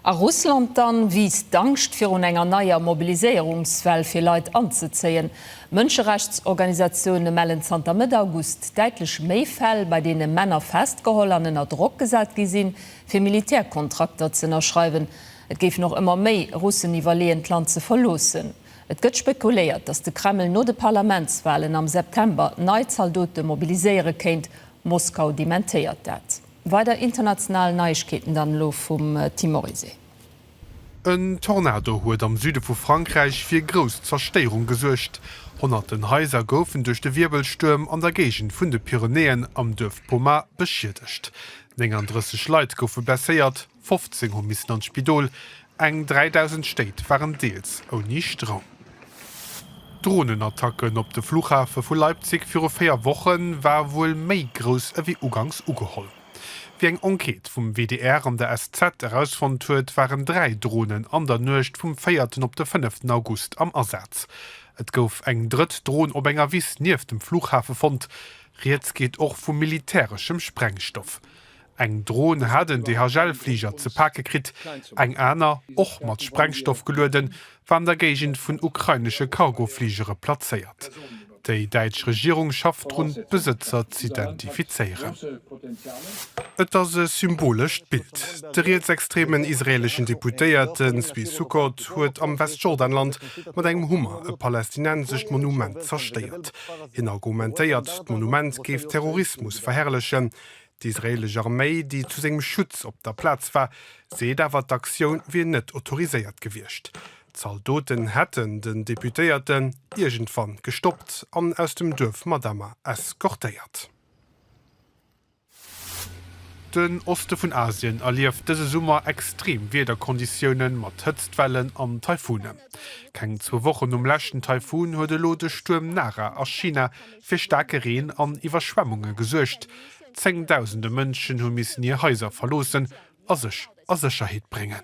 A Russland dann wiisst d'Angscht virun enger neier Mobiliséierungswell fir Leit anzezéien. Mënscherechtsorganisatioune mellen zanter Mëtt August däitlech méi Fäll, bei deene Männer festgeholl an ënner Drock gesat gi sinn, fir Militärkontrakter z'ënnerschreiwen. Et géifen och ëmmer méi Russen iwwerleeën, d'Land ze verloossen. Et gëtt spekuléiert, datt de Kreml no de Parlamentswalen am September nei Zaldote mobiliséiere kéint. Moskau dementéiert dat. Weider international Neiegkeeten dann elo vum Tim Oryse. En Tornado huet am Süde vu Frankräich fir grouss Zerstéierung gesuergt. Honnerten Haiser goufen duerch de Wierbelstuerm an der Géigend vun de Pyrenäen am Duerf Pomar beschiedegt. 39 Leit goufe blesséiert. 15 hu missen an d'Spidol, eng 3.000 Stéit waren deels ouni Stroum. D'Dronenattacken op de Fluchhafe vu Leipzig viru 4 Woche war wuel méi grouss ewéi uganks ugeholl. Wéi eng Enquête vum WDR an der SZ erausfonnt huet, waren 3 Dronen an der Nuecht vum véierten op de fënneften August am Asaz. Et gouf eng drëtt Dron op enger Wiss nieft dem Fluchhafe fonnt. Rieds geet och vu militäreschem Sprengstoff. Eng Dron hat en DHL-Fliger ze pake kritt, eng aner, och mat Sprengstoff gelueden, war an der Géigend vun ukrainesche Cargofligere plazéiert. Déi däitsch Regierung schafft drun, d'Besëtzer z'identifizéieren. Et ass e symbolescht Bild. De rietsextremen israeeleschen Deputéierte Zvi Sukkot huet am Westjordanland mat engem Hummer e palästinensescht Monument zerstéiert. Hien argumentéiert, d'Monument géif Terrorismus verherrlechen. D'israeelesch Arméi, déi zu sengem Schutz op der Plaz war, seet awer, d'Aktioun wier net autoriséiert gewiescht. D'Zaldoten hätten den Deputéierten iergendwann gestoppt an aus dem Duerf Madama eskortéiert. Den Oste vun Asien erlieft dëse Summer extreem Wiederkonditioune mat Hëtztwellen an Taifune. Keng zwou Wochen nom leschten Taifun huet elo de Stuerm Nara a China fir staarke Reen an Iwwerschwemmunge gesuergt. Zéngdausende Mënschen hu missen hir Haiser verloossen a sech a Sécherheet bréngen.